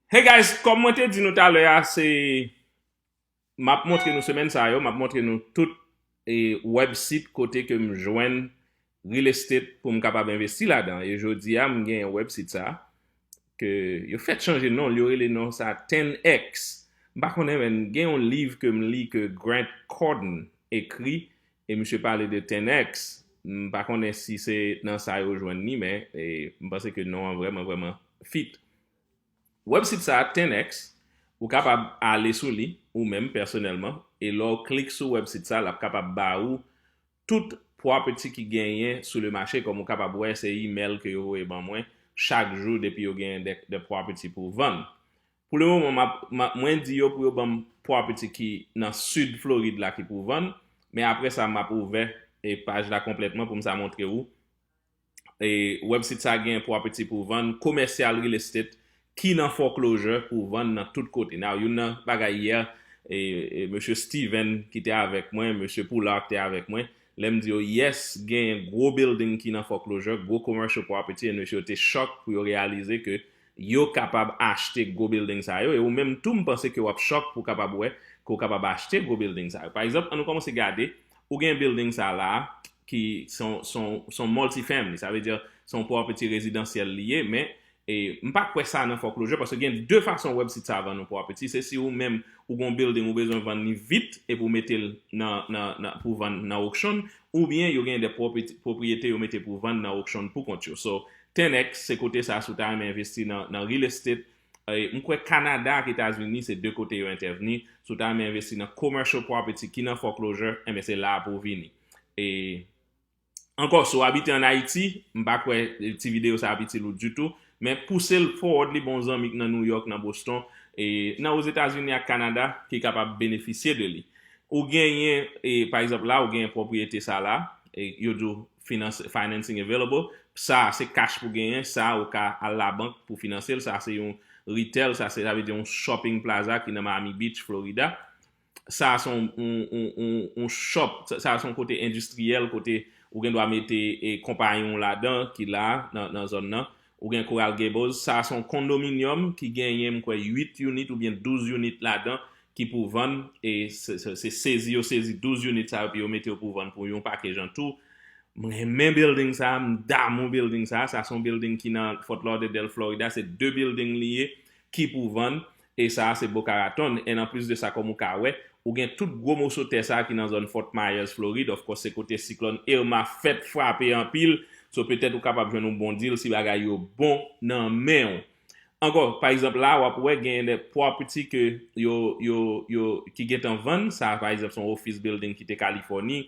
Hey guys, kòm mwen te di nou talè a, se map montre nou semèn sa yo, map montre nou tout e web sit kote ke m jwenn real estate pou m kapab envesti ladan. E jodi a m gen yon web sit sa ke yo fèk chanje non l, yo rele non sa 10X. M pa konnen men gen yon liv ke m li ke Grant Cardone ekri e misye pale de Ten-X, m pa konnen si se nan sa yo jwenn li men m panse ke non an vrèman vrèman fit. Wèbsit sa a Ten-X, ou kapab ale sou li ou menm pèsonèlman e lè w klik sou wèbsit sa l ap kapab ba ou tout property ki genyen sou le mache kòm ou kapab wè se imèl ke yo voye ban mwen chak jou depi yo genyen de property pou vann. Pou le moman map mwen di yo pou yo banm pwa piti ki nan sud Floride la ki pou vann, men aprè sa map ouvè paj la konplètman poum sa montre ou. Website sa gen pwa piti pou vann, commercial real estate ki nan foreclosure pou vann nan tout kote. Now youn nan bagay yè mesye Steven ki te avèk mwen, mesye Poulart te avèk mwen, lèm di yo yes gen gwo building ki nan foreclosure, gwo commercial property and mesye yo te shock pou yo realize ke yo kapab achte gwo bilding sa yo e ou menm tou m panse ke w ap chòk pou w kapab wè ke w kapab achte gwo bilding sa yo. Pa egzanp, an nou kòmanse gade, ou gen bilding sa la a ki se yon se yon se yon multi-family, sa vle di se yon property rezidansyèl li ye men e m pa kwè sa nan foreclosure paske gen de fason wèb sit sa vann yon property, se si ou menm ou gen yon bilding ou bezwen vann li vit epi ou mete l nan nan nan pou vann nan auction oubyen yo gen de property pwopriyete yo mete pou vann nan auction poukont yo so 10X se kote sa si w ta renmen envesti nan real estate m kwè Canada ak Etazini se 2 kote yo entèvni si w ta renmen envesti nan commercial property ki nan foreclosure enben se la a pou w vini e ankò si w abite an Ayiti m pa kwè ti videyo sa ap itil ou ditou men pouse l forward li ba yon zanmi k nan New York nan Boston e nan Ozetazini ak Canada ki kapab benefisye de li ou genyen e pa egzanp la ou genyen pwopriyete sa la e yo di w Finanse, financing available, sa a se cash pou genyen, sa a ou ka al labank pou finanse l, sa a se yon retail, sa a se, sa vle di yon shopping plaza ki nan Miami Beach, Florida. Sa a se yon, yon, yon, yon, yon shop, sa a se yon kote endistriyèl, kote ou gen dwa mete e konpayon w ladan ki la a, nan, nan zòn nan. Ou gen Coral Gables, sa a se yon kondominyòm ki genyen m kwè 8 unit oubyen 12 unit ladan ki pou vann e se sezi yo sezi 12 unit sa yo epi yo mete yo pou vann pou yon pake jan tou. M renmen bilding sa a, m damou bilding sa a, sa se yon bilding ki nan Fort Lauderdale Florida, se 2 bilding li ye ki pou vann E sa a se Boca Raton, and anplis de sa kòm ou ka wè, ou gen tout gwo moso tè sa a ki nan zòn Fort Myers, Florid, of course se kote siklòn Irma fèt frape anpil, so petèt ou kapab jwenn yon bon deal si bagay yo bon nan men ou. Ankò, pa egzanp la a wap wè genyen de property ke yo, yo, yo, ki gentan vann, sa a pa egzanp se yon office building ki te Californie,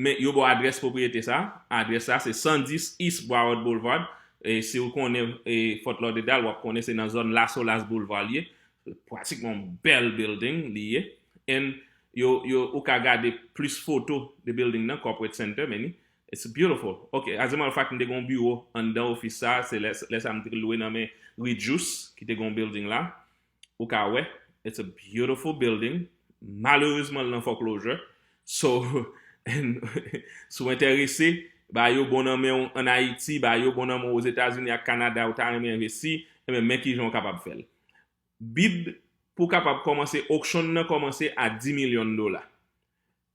Men, yo ba w adrès pwopriyete sa a. Adrès sa a se 110 East Broward Boulevard. E si ou konnen Fort Lauderdale, w ap konnen se nan zòn La Solace Boulevard li ye. Pratikman yon bèl bilding li ye. And, yo, yo, ou ka gade plis foto de bilding nan, Corporate Center, many. It's beautiful. Ok, as a matter of fact, m te gen yon biwo anndan ofis sa a. Se lè, lè sa a m te lwe nan men Reed Jousse, ki te gen yon bilding la. ou ka wè it's a beautiful building malerezman l nan foreclosure so si w enterese ba yo bon nan men w an Ayiti ba yo bon nan men w Ozetazini ak Kanada ou ta renmen envesti enben men kijan w kapab fè l bid pou w kapab kòmanse auction nan kòmanse a 10 milyon dola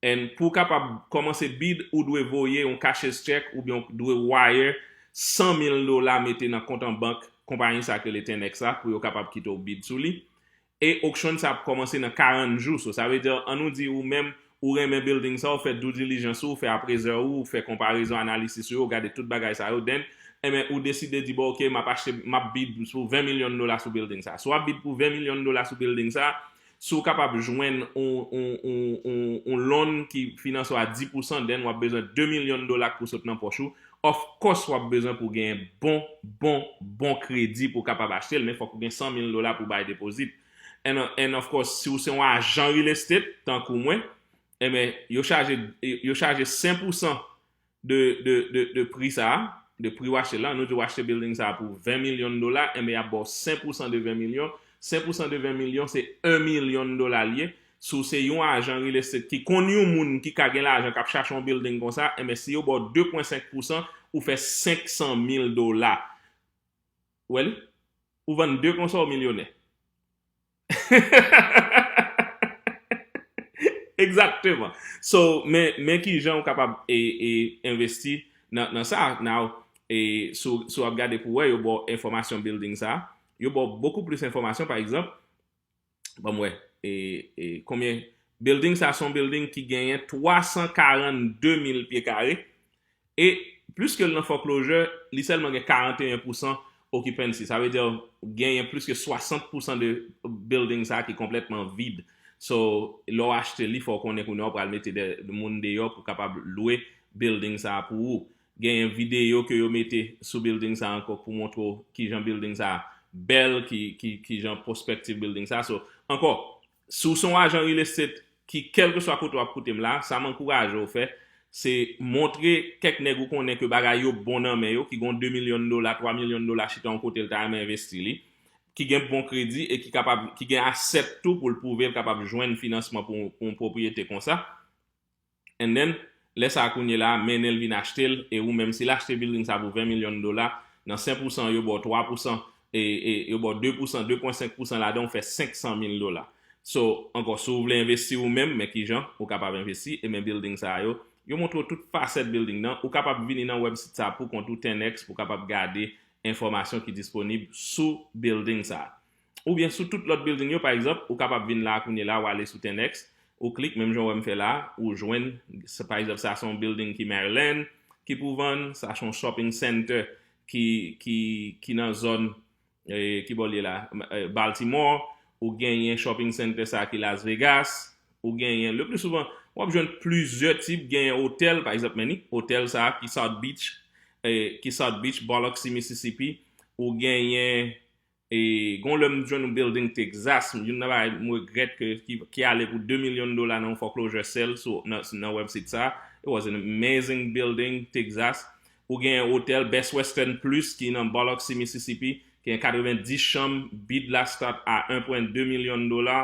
And pou w kapab kòmanse bid ou dwe voye yon cashier's check oubyen w dwe wire 100 mil dola mete nan kont an bank konpayi sa k rele Ten-X la pou yo kapab kite w bid sou li. E auction sa ap kòmanse nan 40 jou so sa vle di an nou di ou menm ou renmen building sa w fè due diligence ou, fè appraiseur ou, ou fè konparezon analisis ou yo, gade tout bagay sa yo then enben ou deside di bon ok m ap achte m ap bid pou 20 milyon dola sou building sa. Si w ap bid pou 20 milyon dola sou building sa Si w kapab jwenn yon loan ki finanse w a 10 pousan, then w ap bezwen 2 milyon dola k pou sot nan pòch ou. Of course w ap bezwen pou gen bon, bon, bon kredi pou w kapab achte l, men fòk ou gen 100 mil dola pou w bay deposit. And of course, si w se yon ajan real estate, tankou mwen, enben, yo chaje, yo chaje 5 pousan de pri sa, de pri w achte l la, nou di w achte bilding sa pou 20 milyon dola, enben y ap ba w 5 pousan de 20 milyon, 5 pousan de 20 milyon se 1 milyon dola li ye, si w se yon ajan real estate ki konn yon moun ki ka gen lajan k ap chache yon bilding konsa, enben si yo ba w 2 pwen 5 pousan, ou fè 500 mil dola. Ou wè li? Ou vann 2 konsa ou milyonè. Exactement so men kijan ou kapab investi nan sa now si wap gade pou wè yo baw enfomasyon building sa yo baw beaucoup plus enfomasyon pa egzanp banm wè konbyen building sa son building ki genyen 342 mil pye kare E, pliske l nan foreclosure, li sèlman gen 41 pousan occupancy. Sa vle di genyen pliske 60 pousan de building sa ki konplètman vid. So, lè w achte li, fò w konnen kounye a w pral mete de moun deyò pou kapab lwe building sa pou ou. Genyen videyo ke yo mete sou building sa ankò pou montre w kijan building sa bèl, kijan prospective building sa. So, ankò, Si w se yon ajan real estate ki kèlkeswa kote w ap koute m la, sa m ankouraje w fè, se montre kèk nèg ou konnen ke bagay yo bon nan men yo, ki gen yon 2 milyon dola, 3 milyon dola chita yon kote l ta renmen envesti li, ki gen bon kredi e ki kapab, ki gen asset tou pou l pwouve l kapab jwenn finansman pou yon pwopriyete konsa. and then lè sa kounyela mennenl vin achtel e ou menm sil achte building sa pou 20 million dola nan 5 pousan yo baw 3 pousan e e yo baw 2 pousan 2 pwen 5 pousan ladan ou fè 500 mil dola so ankò si ou vle envesti ou menm men kijan ou kapab envesti e men building sa yo yo montre ou tout fasèt building nan ou kapab vini nan web sit sa poukont ou 10X pou kapab gade enfòmasyon ki disponib sou building sa oubyen sou tout lòt building yo pa egzanp ou kapab vin la kounye la ou ale sou tenx ou klik menm jan ou wèm fè la ou jwenn pa egzanp sa son building ki maryland ki pou vann sa son shopping center ki nan zòn ki bòl ye la baltimore ou genyen shopping center sa ki las vegas ou genyen le plus souvent wap jwenn plizyè tip genyen hotel pa egzanp menni hotel sa ki south beach ki south beach bòlòk si mississippi ou genyen E gon lè m jwenn yon building Texas, youn nan bagay m regrèt ke ki ale pou 2 milyon dola nan yon foreclosure sale sou nan website sa, it was an amazing building Texas, ou gen hotel Best Western Plus ki nan Biloxi Mississippi, ki gen 90 chanm, bid la start a 1.2 million dola,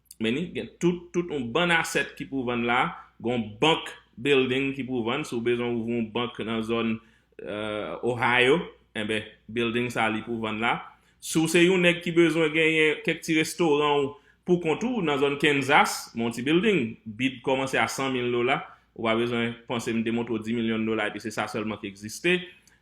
Men ni gen tout tout yon bann asset ki pou vann la, gon bank building ki pou vann, si w bezwen ouvri yon bank nan zòn Ohio, enben building sa li pou vann la. Si w se yon nèg ki bezwen genyen kèk ti restoran w pou kont ou nan zòn Kansas, men yon ti building, bid kòmanse a 100 mil dola, ou pa bezwen panse m te montre w 10 milyon dola epi se sa sèlman ki egziste.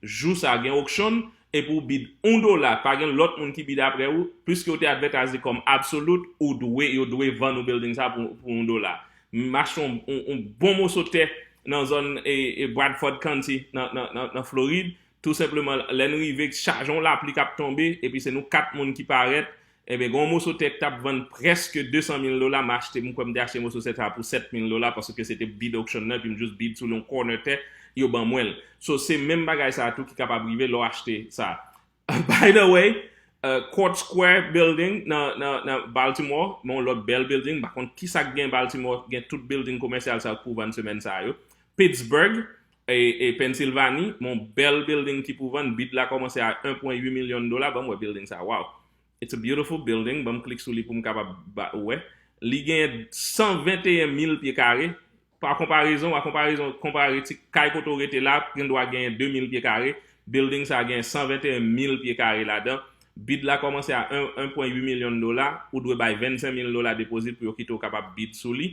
Jou sa gen okshon epi ou bid 1 dola pa gen lòt moun ki bid aprè ou, pwiske ou te advètaze kòm absolut ou dwe yo dwe vann ou bilding sa pou 1 dola. M achte yon yon bon moso tè nan zòn Bradford County nan Florid tou senpleman lè n rive chaje yon lapli k ap tonbe epi se nou 4 moun ki parèt Enben, gen yon moso tè k t ap vann prèske 200 mil dola, m achte, m kwè m te achte moso tè sa a pou 7 mil dola paske se te bid auction nan epi m jis bid sou l yon corner tè, yo ban mwen l. So, se menm bagay sa a tou ki kapab rive lè w achte sa a. By the way, Court Square Building nan Baltimore, men yon lòt bèl building, m pa konn kisa k gen Baltimore, gen tout building komèsyal sa yo k pou vann semèn sa a yo. Pittsburgh, E Pensilvani, yon bèl bilding ki pou vann, bid la kòmanse a 1.8 milyon dola, banm wè bilding sa waww. It's a beautiful building, banm klik sou li poum kapab ba ou wè. Li genyen 121 mil pye kare, pa konparezon, a konparezon, konpare ti kay kote ou rete la, gen dwa genyen 2 mil pye kare, bilding sa genyen 121 mil pye kare ladan, bid la kòmanse a 1.8 milyon dola, ou dwe bay 25 mil dola depozit pou yo kite ou kapab bid sou li,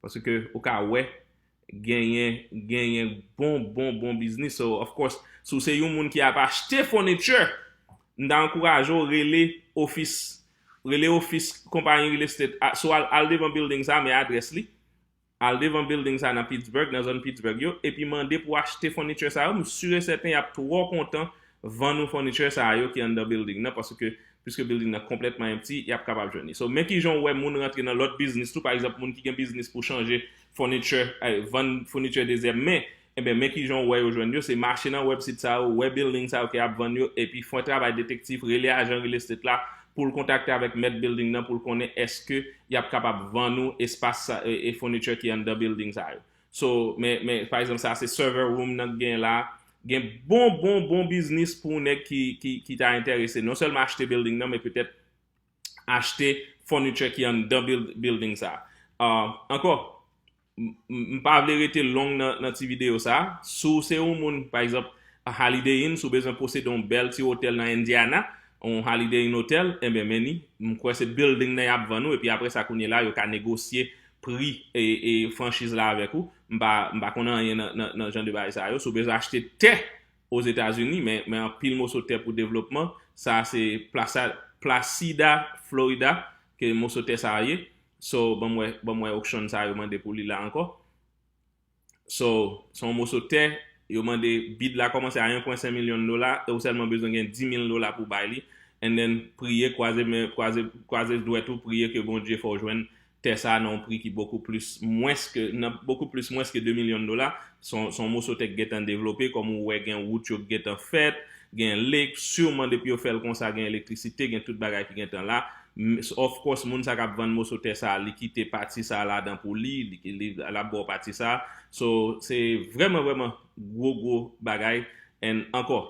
Paske ou ka wè genyen genyen bon bon bon biznis so of course si w se yon moun ki ap achte furniture m ta ankouraje w rele ofis rele ofis konpayi real estate a swa al devan building sa men adrès li al devan building sa nan Pittsburgh nan zòn Pittsburgh yo epi mande pou achte furniture sa yo m sur et certain y ap twò kontan vann ou furniture sa yo ki anndan building nan paske Piske building nan konplètman empty, yap kapab jwenn li. So, men kijan ou wè moun rantre nan lòt biznis tou, pa egzanp moun ki gen biznis pou chanje furniture, vann furniture dezèm men, enben men kijan ou wè yo jwenn yo, se mache nan wèb sit sa yo, wè building sa yo ke yap vann yo, epi fè travay detektif, rele ajan real estate la poul kontakte avèk mèt building nan poul konnen eske yap kapab vann ou espas sa, furniture ki anndan building sa yo. So men men pa egzanp sa se server room nan k gen la, gen bon bon bon biznis pou nèg ki ki ki ta entèrese non sèlman achte building nan men petèt achte furniture ki anndan building sa. Ah ankò m pa vle rete long nan nan ti videyo sa, si w se yon moun pa egzanp Holiday Inn si w bezwen posede yon bèl ti otèl nan Indiana, yon Holiday Inn otèl, enben men ni, m kwè se building nan y ap vann ou epi aprè sa kounye la yo ka negosye pri franchiz la avèk ou, m pa konn anyen nan jan de bagay sa yo, si w bezwen achte tè ozetazini men anpil moso tè pou devlopman, sa se Placida Florida ke moso tè sa ye, so banm wè, banm wè auction sa yo mande pou li la ankò. So, se yon moso tè, yo mande bid la kòmanse a 1.5 milyon dola e ou sèlman bezwen gen 10 mil dola pou bay li and then priye kwaze men, kwaze, kwaze dwèt ou priye ke Bondye fè w jwenn tè sa nan yon pri ki bokou plis mwens ke, nan bokou plis mwens ke 2 milyon dola. Se yon, se yon moso tè ki gen tan devlope, kòm ou wè gen wout yo ki gen tan fèt, gen lake, surman depi yo fè l konsa gen elektrisite, gen tout bagay ki gen tan la. Ms of course moun sa kap vann moso tè sa li kite pati sa ladan pou li li lap baw pati sa so se vrèman vrèman gwo gwo bagay and ankò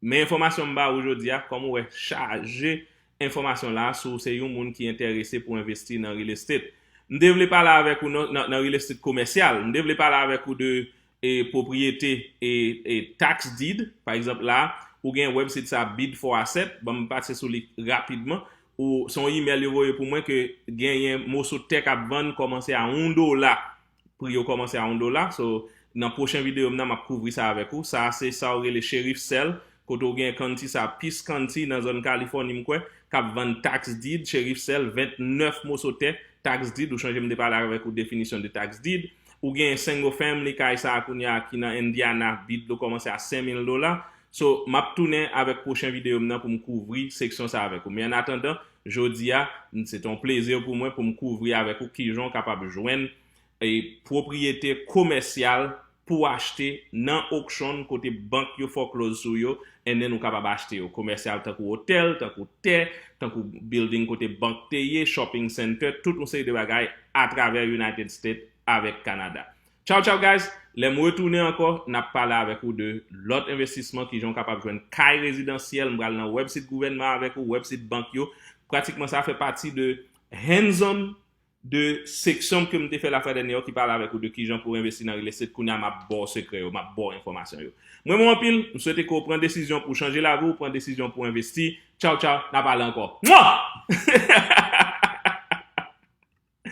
men enfòmasyon m ba ou jodia kòm ou wè chaje enfòmasyon la si w se yon moun ki entèrese pou envesti nan real estate m te vle pale avèk ou nan real estate komèsyal m te vle pale avèk ou de e pwopriyete e e tax deed pa egzanp la ou gen website sa bid for asset banm pase sou li rapidman ou se yon email yo voye pou mwen ke genyen moso tè kap vann kòmanse a 1 dola pri yo kòmanse a 1 dola so nan pwochen video m nan map kouvri sa avèk ou sa se sa ou rele sheriff sell kote ou gen county sa peace county nan zòn californie m kwè kap vann tax deed sheriff sell 29 moso tè tax deed ou chanje m te pale avèk ou definisyon de tax deed Ou gen single family kay sa a kounya ki nan Indiana bid lo komanse a 5000 dola so map tounen avek pwochen video m nan pou m kouvri seksyon sa avek ou men an atandan jodi a m se te yon plezi pou mwen pou m kouvri avek ou kijan ou kapab jwenn e pwopriyete komèsyal pou achte nan okshon kote bank yo fòklòz sou yo NN ou kapab achte yo komèsyal tankou otèl, tankou tè, tankou bilding kote bank te ye, shopping center, tout yon seri de bagay atravè United States avèk Kanada. Tchaw tchaw guys, lè m retounen ankò n ap pale avèk ou de lòt envestisman, kijan ou kapab jwenn kay rezidansyèl, m pral nan wèbsit gouvènman avèk ou, wèbsit bank yo, pratikman sa fè pati de hands on 2 seksyon ke m te fè la fwa dènye yo ki pale avèk ou de kijan pou envesti nan real estate kounye a m ap ba w sekrè yo, m ap ba w enfòmasyon yo. M renmen w anpil, m swete ke w pran desizyon pou w chanje lavi w, pran desizyon pou w envesti. Tchaw tchaw, n a pale ankò. Mwah!